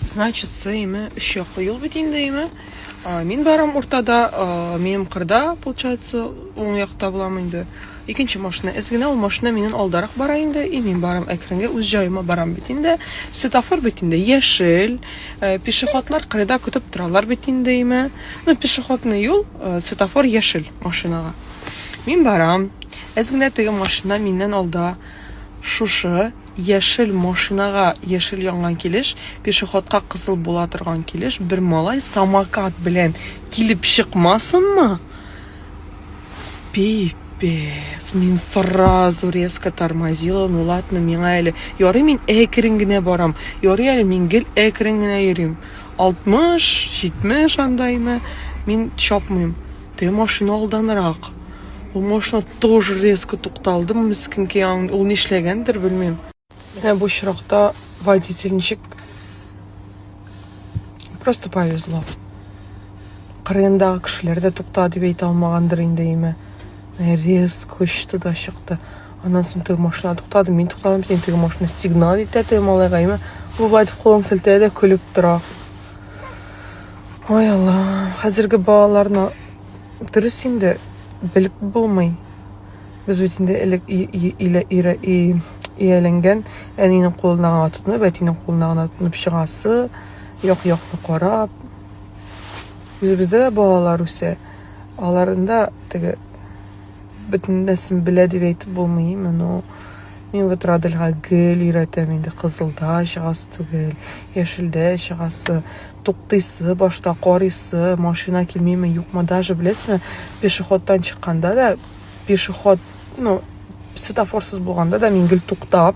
Значит, сыймы, үш яклы юл бит инде, име? Мин барам уртада, минем кырда, получается, уң якта булам инде. Икенче машина эз генә, ул машина миннән алдарак бара инде, и мин барам әкренге үз җаема барам бит инде. Светофор бит инде яшел, э, пешеходлар кырыда көтеп торалар бит инде, име? Ну, пешеходный юл, э, светофор яшел машинага. Мин барам. Эз генә теге машина миннән алда. Шушы Яшел машинага яшел янган килеш, пешеходка кызыл була торган килеш бер малай самокат белән килеп чыкмасынмы? Пип пец, мин сразу резко тормозила, ну ладно, миңа әле, ярый мин әкрен генә барам, ярый әле мин гел әкрен генә йөрим. 60, 70 андаймы, мин чапмыйм. Те машина алданрак. Ул машина тоже резко тукталды, мискинки, ул нишләгәндер, белмим. Менә бу очракта водитель ничек просто повезло. Кырындагы кешеләр дә тукта дип әйтә алмагандыр инде име. Резко очты да чыкты. Аннан соң теге машина туктады, мин туктадым, син теге машина сигнал итә теге малайга име. Ул былай дип кулын селтәде, көлеп тора. Ой, Аллам, хәзерге балаларны Дөрес инде, белеп булмый. Без бит инде элек ияләнгән әнинең кулына гына тотынып, әтинең кулына гына тотынып чыгасы, як-якны карап. Үзебездә дә балалар үсә. Аларында теге бөтен нәрсәне белә дип әйтеп булмый, моны мин вот Радельга гел өйрәтәм инде, кызылда чыгасы түгел, яшелдә чыгасы, туктыйсы, башта карыйсы, машина килмиме, юкмы, даже беләсезме, пешеходтан чыкканда да, пешеход, ну, светофорсыз булганда да мин гел туктап,